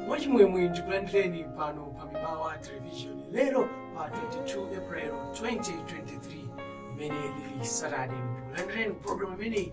mwachimwemwe ndikulandireni pano pa mibawa television lero pa 22 april 2023 limene lili saturday ndikulandireni program imeneyi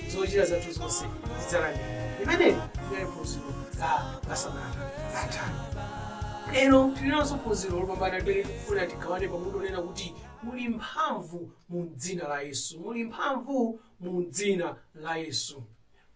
zochita zathu zonse zidzalangira imeneyi ndiye phunziro la masabata atha lero tilinanso phunziro lopambana limene tikufuna tigawane pamutu onena kuti muli mphamvu mu dzina la yesu muli mphamvu mu dzina la yesu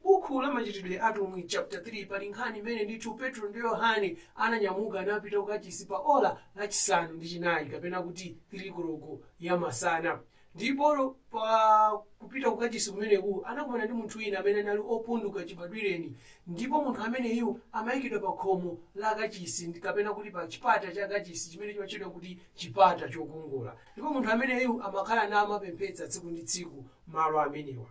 bukhu la machitidwe a atumwi chapter 3 pali nkhani imene ndithu petro ndi yohane ananyamuka napita kukachisi pa ola lachisanu ndi chinayi kapena kuti 3 koloko ya masana Ndipo pa kupita ku kachisi kumeneku anakumana ndi munthu wina amene anali opunduka chibadwireni, ndipo munthu ameneyu amayikidwa pa khomo la kachisi, kapena kuti pa chipata cha kachisi chimene chimatchedwa kuti chipata chokongola. Ndipo munthu ameneyu amakhala namapemphetsa tsiku ndi tsiku malo amenewa.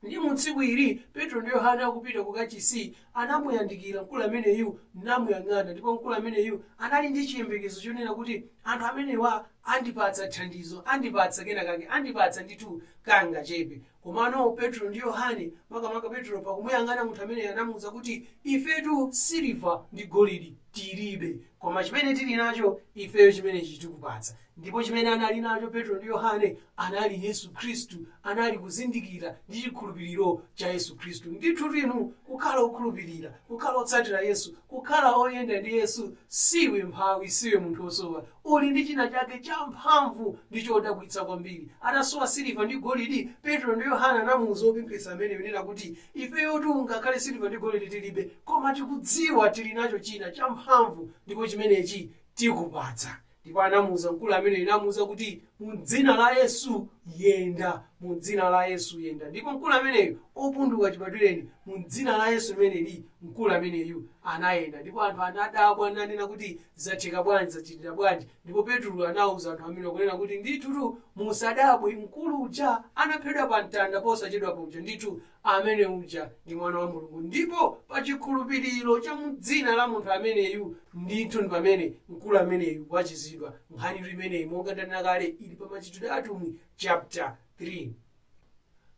Ndiye mu tsiku ili, Petro ndi Yohane akupita ku kachisi, anamuyandikira mkulu ameneyu namuyang'ana, ndipo mkulu ameneyu anali ndi chiyembekezo chonena kuti anthu amenewa andipatsa thandizo, andipatsa kenakake, andipatsa ndithu kangachepe. Komano Petro ndi Yohane, makamaka Petro, pakumuyang'ana munthu ameneyu anamuuza kuti, Ifetu siliva ndi golidi tiribe, koma chimene tiri nacho ifeyo chimenechi tikupatsa. Ndipo chimene anali nacho Petro ndi Yohane, anali Yesu Khristu, anali kuzindikira ndi chikhulupiriro cha Yesu Khristu. Ndithudi inu, kukhala okhulupirira, kukhala otsatira Yesu, kukhala oyenda ndi Yesu, siwe mphawi, siwe munthu wosowa. Uli ndi china chake champhamvu ndi chodabwitsa kwambiri. Atasowa siliva ndi golidi, Petro ndi Yohane anamuuza wopemphetsa ameneyu kunena kuti, Ifeyotu ngakhale siliva ndi golidi tilibe, koma tikudziwa tili nacho china champhamvu, ndipo chimenechi tikupatsa. Ndipo anamuuza mkulu ameneyu namuuza kuti, Mu dzina la Yesu, yenda! Mu dzina la Yesu, yenda! Ndipo mkulu ameneyu, opunduka chibadwireni, mu dzina la Yesu limeneli, mkulu ameneyu anayenda. Ndipo anthu anadabwa nanena kuti, Zatheka bwanji? Zachitika bwanji? Ndipo Petulo anauza anthu amenewa kunena kuti, Ndithutu musadabwe, mkulu uja anapheredwa pa mtanda posachedwapa uja ndithu Amene uja ndi Mwana wa Mulungu. Ndipo pa chikhulupiriro cha mu Dzina la Munthu ameneyu, ndithu ndi pamene mkulu ameneyu wachiritsidwa. Nkhanitu imeneyi, monga ndanena kale, ili pa Machitidwe a Atumwi, chaputa 3.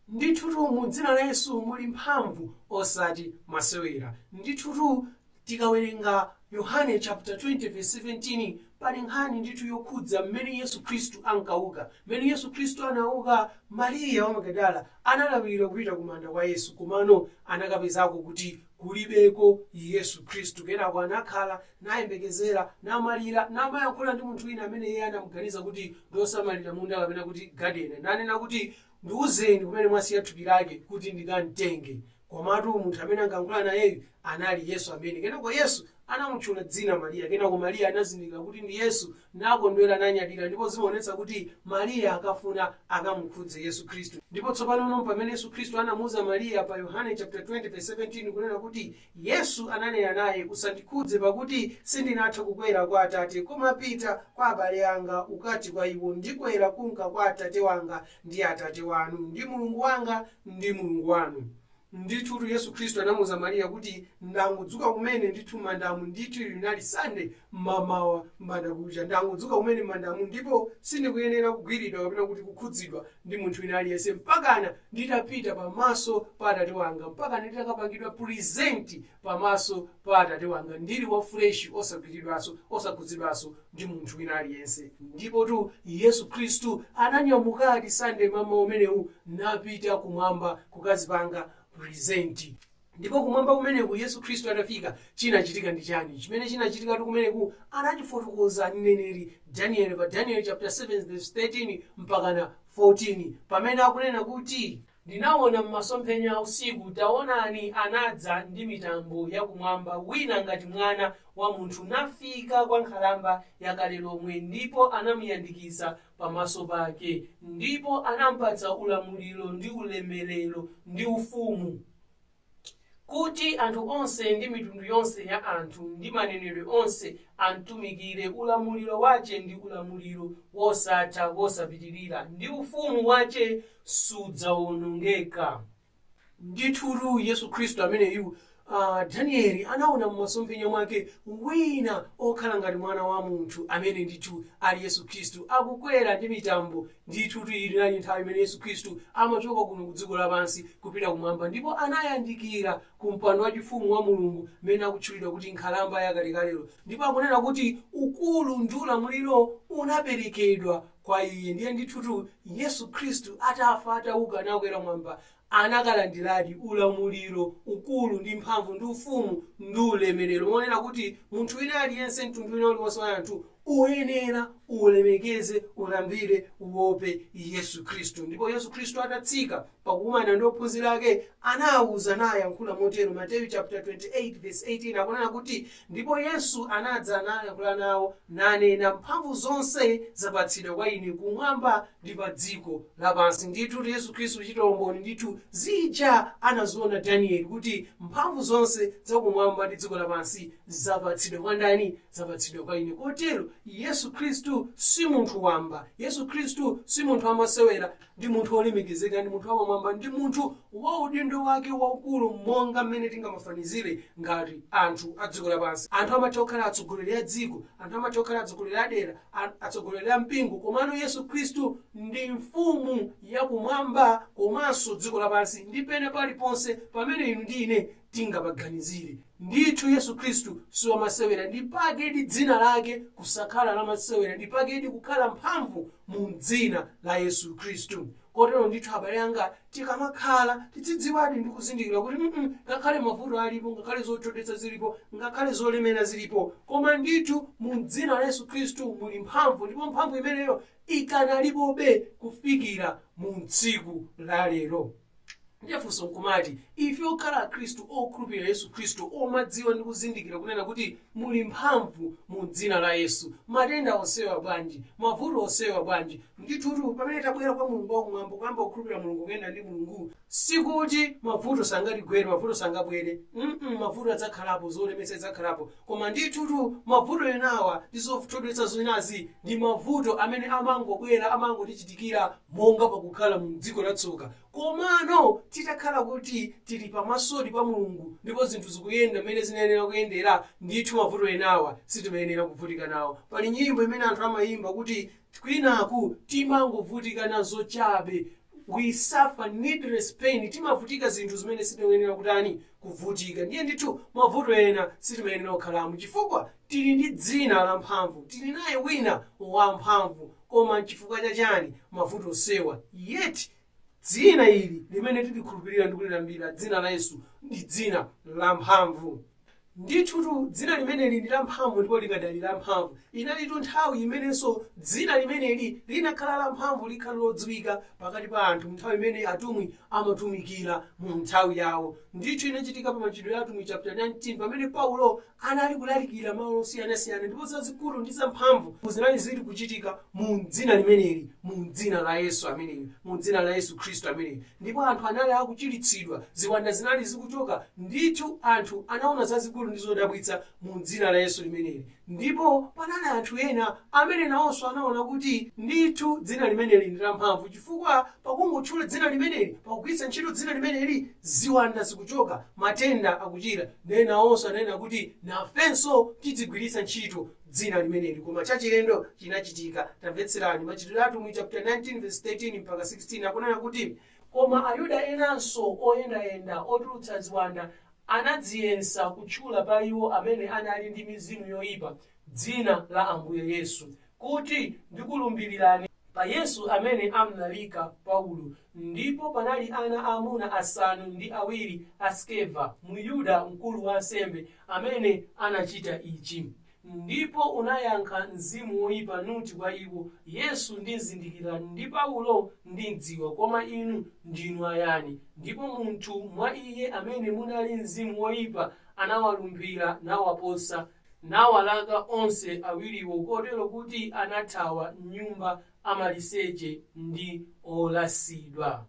Ndithutu mu Dzina la Yesu muli mphamvu, osati masewera. Ndithutu. Tikawerenga Yohane chaputala 20 vesi 17 pali nkhani ndithu yokhudza mmene Yesu Khristu ankauka. Mmene Yesu Khristu anauka, Mariya wa Magadala analawirira kupita ku manda kwa Yesu komano anakapezako kuti kulibeko Yesu Khristu. Kenako anakhala, nayembekezera, namalira, namayankhula ndi munthu wina amene iye anamuganiza kuti ndi wosamalira munda kapena kuti gadeni. Nanena kuti, Ndiuzeni kumene mwasiya thupi lake kuti ndikamtenge. Komatu munthu amene ankalankhula nayeyu anali Yesu amene. Kenako Yesu anamutchula dzina Mariya. Kenako Mariya anazindikira kuti ndi Yesu, nakondwera nanyadira ndipo zimaonetsa kuti Mariya ankafuna akamukhudze Yesu Khristu. Ndipo tsopano ndi pamene Yesu Khristu anamuuza Mariya pa Yohane chaputala 20 vesi 17 kunena kuti, Yesu ananena naye, Usandikhudze, pakuti sindinatha kukwera kwa Atate, koma pita kwa abale anga, ukati kwa iwo, Ndikwera kunka kwa Atate wanga ndi Atate wanu, ndi Mulungu wanga ndi Mulungu wanu. Ndithutu Yesu Khristu anamuuza Mariya kuti ndangodzuka kumene ndithu m'mandamu ndithu ili linali Sunday mmamawa, m'bandakucha, ndangodzuka kumene m'mandamu ndipo sindikuyenera kugwiridwa kapena kuti kukhudzidwa ndi munthu wina aliyense mpakana nditapita pamaso pa Atate wanga, mpakana nditakapangidwa present pamaso pa Atate wanga ndili wa fresh osagwiridwanso, osakhudzidwanso ndi munthu wina aliyense. Ndipotu Yesu Khristu ananyamukadi Sunday mmamawa umenewu napita kumwamba kukazipanga present. Ndipo kumwamba kumeneku, Yesu Khristu atafika, chinachitika ndi chani? Chimene chinachitikatu kumeneku anachifotokoza ndi mneneri Danieli pa Danieli chaputala 7 vesi 13 mpakana 14, pamene akunena kuti, Ndinawona m'masomphenya a usiku, tawonani, anadza ndi mitambo ya kumwamba wina ngati mwana wa munthu, nafika kwa Nkhalamba ya kale lomwe, ndipo anamuyandikiza pamaso pake, ndipo anamupatsa ulamuliro, ndi ulemelero, ndi ufumu. Kuti anthu onse, ndi mitundu yonse ya anthu, ndi manenedwe onse, amtumikire, ulamuliro wace ndi ulamuliro wosatha, wosapitirira, ndi ufumu wace sudzaonongeka. Ndithutu, Yesu Khristu ameneyu Danieli anaona m'masomphenya mwake wina okhala ngati mwana wa munthu, amene ndithu ali Yesu Khristu, akukwera ndi mitambo Ndithutu iyi inali nthawi imene Yesu Khristu amachoka kuno ku dziko lapansi kupita kumwamba ndipo anayandikira ku mpando wachifumu wa Mulungu amene akutchulidwa kuti Nkhalamba ya kalekalelo ndipo akunena kuti ukulu ndi ulamuliro unaperekedwa kwa Iye. Ndiye ndithutu Yesu Khristu atafa, atauka nakwera kumwamba anakalandiradi ulamuliro, ukulu, ndi mphamvu, ndi ufumu, ndi ulemerero, kunena kuti munthu wina aliyense, mtundu wina uliwonse wa anthu, uyenera ulemekeze, ulambire, uope Yesu Khristu. Ndipo Yesu Khristu atatsika pakukumana ndi ophunzira ake, anawauza nayankhula motero. Mateyu chaputala 28 vesi 18 akunena kuti Ndipo Yesu anadza nayankhula nawo, nanena, Mphamvu zonse zapatsidwa kwa Ine Kumwamba ndi pa dziko lapansi. Ndithudi Yesu Khristu kuchitira umboni ndithu zija anaziona Danieli kuti mphamvu zonse za kumwamba ndi dziko lapansi zapatsidwa kwa ndani? Zapatsidwa kwa Ine. Kotero, Yesu Khristu si munthu wamba. Yesu Khristu si munthu wamasewera. Ndi munthu wolemekezeka, ndi munthu wapamwamba, ndi munthu wa udindo wake waukulu monga mmene tingamafanizire ngati anthu a dziko lapansi. Anthu amatha kukhala atsogoleri a dziko, anthu amatha kukhala atsogoleri a dera, a, atsogoleri a mpingo, komano Yesu Khristu ndi mfumu ya kumwamba komanso dziko lapansi ndi pena paliponse pamene inu ndi ine tingapaganizire. Ndithu Yesu Khristu si wamasewera, n'dipakedi dzina lake kusakhala la masewera, n'dipakedi kukhala mphamvu mu m'dzina la Yesu Khristu. Kotero ndithu abale anga, tikamakhala tizidziwadi ndi kuzindikira kuti mm ngakhale mavuto alipo, ngakhale zothodwetsa zilipo, ngakhale zolemera zilipo, koma ndithu mu m'dzina la Yesu Khristu muli mphamvu, ndipo mphamvu imeneyo ikanalipobe kufikira mu tsiku la lero. ndiye funso nkumati ife okhala akhristu okhulupirira yesu khristu omadziwa ndi kuzindikira kunena kuti muli mphamvu mu dzina la yesu matenda onsewa bwanji mavuto onsewa bwanji ndithutu pamene tabwera kwa mulungu wakumwamba kuyamba kukhulupirira mulungu kuyenda ndi mulungu sikuti mavuto sangatigwere mavuto sangabwere mm mavuto adzakhalapo zolemetsa zidzakhalapo Koma ndithutu mabvuto enawa ndi zothodwetsa zinazi ndi mabvuto amene amangobwera, amangotichitikira monga pakukhala mu m'dziko la tsoka. Komano titakhala kuti tiri pamasodi pa Mulungu ndipo zinthu zikuyenda m'mene zinayenera kuyendera, ndithu mabvuto enawa sitimayenera kubvutika nawo. Pali nyimbo imene anthu amayimba kuti kwinaku timangobvutika nazo chabe, We suffer needless pain, timabvutika zinthu zimene sitinayenera kutani? kuvutika. Ndiye ndithu mavuto ena sitimayenera kukhalamo chifukwa tili ndi dzina la mphamvu, tili naye wina wa mphamvu. Koma nchifukwa cha chani mavuto onsewa? Yet dzina ili limene tilikhulupirira ndi kulilambira, dzina la Yesu, ndi dzina la mphamvu. Ndithutu dzina limeneli ndi la mphamvu ndipo likadali la mphamvu. Inalipo nthawi imenenso dzina limeneli linakhala la mphamvu likadali lodziwika pakati pa anthu mnthawi imene atumwi amatumikira mu nthawi yawo. Ndithu inachitika pa Machitidwe a Atumwi chaputala 19 pamene Paulo anali kulalikira malo osiyanasiyana ndipo zazikulu ndi zamphamvu zinali ziri kuchitika mu dzina limeneli, mu dzina la Yesu ameneyu, mu dzina la Yesu Khristu ameneyu. Ndipo anthu anali akuchiritsidwa, ziwanda zinali zikuchoka, ndithu anthu anaona zazikulu ndi zodabwitsa mu dzina la Yesu limeneli. Ndipo panali anthu ena amene nawonso anaona kuti ndithu dzina limeneli ndi lamphamvu chifukwa pakungotchula dzina limeneli, pakugwiritsa ntchito dzina limeneli, ziwanda zikuchoka, matenda akuchira. Nde nawonso ananena kuti, Nafenso tidzigwiritsa ntchito dzina limeneli. Koma chachilendo chinachitika. Tamvetserani. Machitidwe a Atumwi chaputala 19 vesi 13 mpaka 16 akunena kuti, Koma Ayuda enanso oyendayenda otulutsa ziwanda anadziyesa kutchula pa iwo amene anali ndi mizimu yoyipa dzina la Ambuye Yesu, kuti, Ndikulumbirirani pa Yesu amene amlalika Paulo. Ndipo panali ana aamuna asanu ndi awiri a Skeva, Myuda, mkulu wa ansembe, amene anachita ichi. Ndipo unayankha mzimu woipa, nuti kwa iwo, Yesu ndimzindikira, ndi Paulo ndimdziwa, koma inu ndinu ayani? Ndipo munthu mwa iye amene munali mzimu woipa anawalumphira, nawaposa, nawalaka onse awiriwo, kotero kuti anathawa m'nyumba amaliseche ndi olasidwa.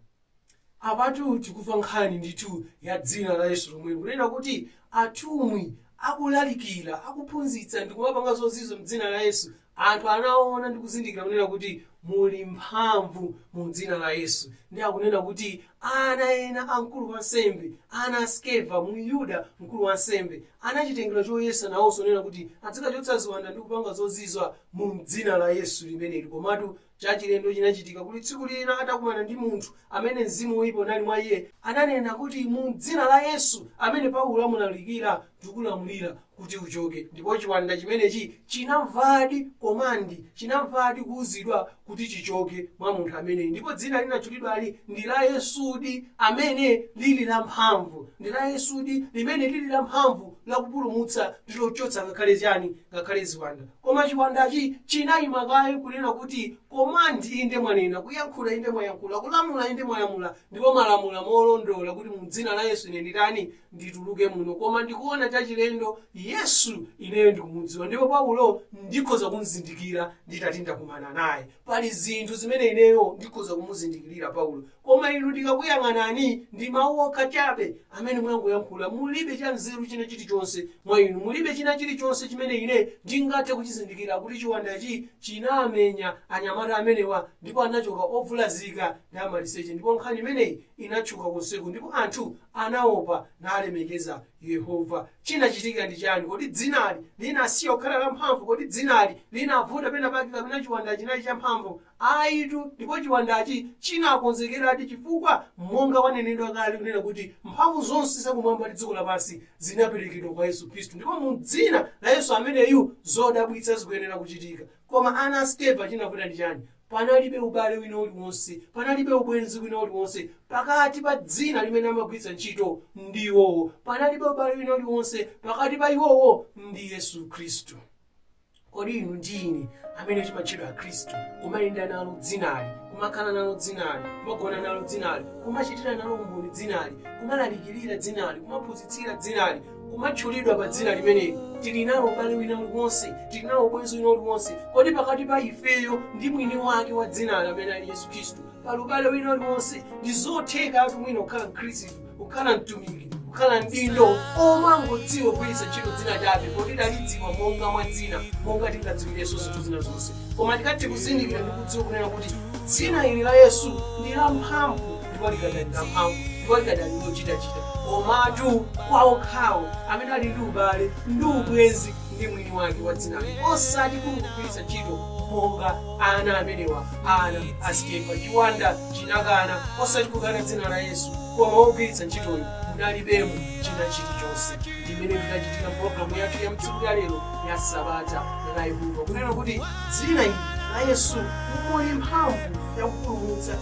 Apatu tikumva nkhani ndithu ya dzina la Yesu lomweli, kunena kuti atumwi akulalikira, akuphunzitsa ndi kumapanga zozizwa m'dzina la Yesu, anthu anaona ndi kuzindikira kunena kuti muli mphamvu mu dzina la Yesu. Ndi akunena kuti ana ena a mkulu wansembe, ana a Skeva, Myuda, mkulu wansembe, anachitengera choyesa nawonso kunena kuti adzikachotsa ziwanda ndi kupanga zozizwa mu dzina la Yesu limeneli, komatu Chachilendo chinachitika kuti tsiku lina atakumana ndi munthu amene mzimu woipa unali mwa iye, ananena kuti, Mu dzina la Yesu, amene Paulo amulalikira, ndikulamulira kuti uchoke. Ndipo chiwanda chimenechi chinamvadi command, chinamvadi kuuzidwa kuti chichoke mwa munthu ameneyu. Ndipo dzina linatchulidwali ndi la Yesudi, amene lili lamphamvu. Ndi la Yesudi, limene lili lamphamvu lakupulumutsa ndi lochotsa ngakhale chiyani? Ngakhale ziwanda. Koma chiwandachi chinaima kaye kunena kuti command inde mwanena, kuyankhula inde mwayankhula, kulamula inde mwalamula, ndipo mwalamula molondola kuti mu dzina la Yesu ine nditani? Ndituluke muno. Koma ndikuona chachilendo, Yesu ineyo ndikumudziwa ndipo Paulo ndikhoza kumzindikira nditati ndakumana naye. Pali zinthu zimene ineyo ndikhoza kumuzindikirira Paulo, koma inu ndikakuyang'anani, ndi mawu okha chabe amene mwangoyankhula, mulibe cha nzeru china chilichonse mwa inu, mulibe china chilichonse chimene ine ndingathe kuchizindikira kuti chiwandachi chinamenya anyamata amenewa ndipo anachoka ovulazika ndi amaliseche ndipo nkhani imeneyi inatchuka konseku ndipo anthu anaopa nalemekeza Yehova. Chinachitika ndi chani? Kodi dzinali linasiya kukhala lamphamvu? Kodi dzinali linavuta penapake kapena chiwandachi chinali champhamvu? Ayitu, ndipo chiwandachi chinakonzekeradi chifukwa monga wanena kale kunena kuti mphamvu zonse za kumwamba ndi dziko lapansi zinaperekedwa kwa Yesu Khristu ndipo mu dzina la Yesu ameneyu zodabwitsa zikuyenera kuchitika. Koma ana a Skeva chinavuta ndi chani? Panalibe ubale wina uliwonse, panalibe ubwenzi wina uliwonse pakati pa dzina limene amagwiritsa ntchito ndi iwowo, panalibe ubale wina uliwonse pakati pa iwowo ndi Yesu Khristu. Kodi inu ndi ine amene timatchedwa Akhristu, kumayenda nalo dzinali, kumakhala nalo dzinali, kumagona nalo dzinali, kumachitira nalo umboni dzinali, kumalalikirira dzinali, kumaphunzitsira dzinali, kumatchulidwa pa dzina limeneli, tili nawo ubale wina uliwonse, tili nawo ubwenzi wina uliwonse? Kodi pakati pa ifeyo ndi mwini wake wa dzinali amene ali Yesu Khristu pali ubale wina uliwonse? Ndi zothekatu wina kukhala Mkhristu, kukhala mtumiki, kukhala mdindo omangodziwa kugwiritsa ntchito dzina chabe poti talidziwa monga mwa dzina, monga tingadziwirenso zinthu zina zonse. Koma tikathe kuzindikira ndi kudziwa kunena kuti dzina ili la Yesu ndi lamphamvu. ndipo likadali la mphamvu ndipo likadali lochitachita komatu kwa okhawo amene ali ndi ubale ndi ubwenzi ndi mwini wake wa dzinalo osati kungogwiritsa ntchito monga ana amenewa ana a Skeva chiwanda chinakana osati kukana dzina la yesu koma wogwiritsa ntchitoyo munalibemo china chilichonse ndimene tikachitika mpulogalamu yathu ya tsiku la lero la sabata la yehova kunena kuti dzina ili la yesu muli mphamvu yakupulumutsa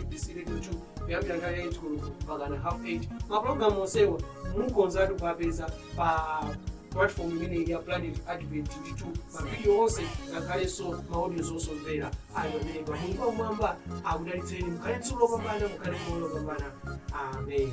abc2 kuyambira nthawi ya 8 koloko mpaka na half 8 mapulogalamu onsewa mukhozatu kuwapeza pa platform imeneyi ya planet advent ndithu mavidiyo onse ngakhalenso maaudio zosomvera ali pamenepa mulungu wamwamba akudalitseni mukhale ndi tsiku lopambana mukhale ndi moyo wopambana amen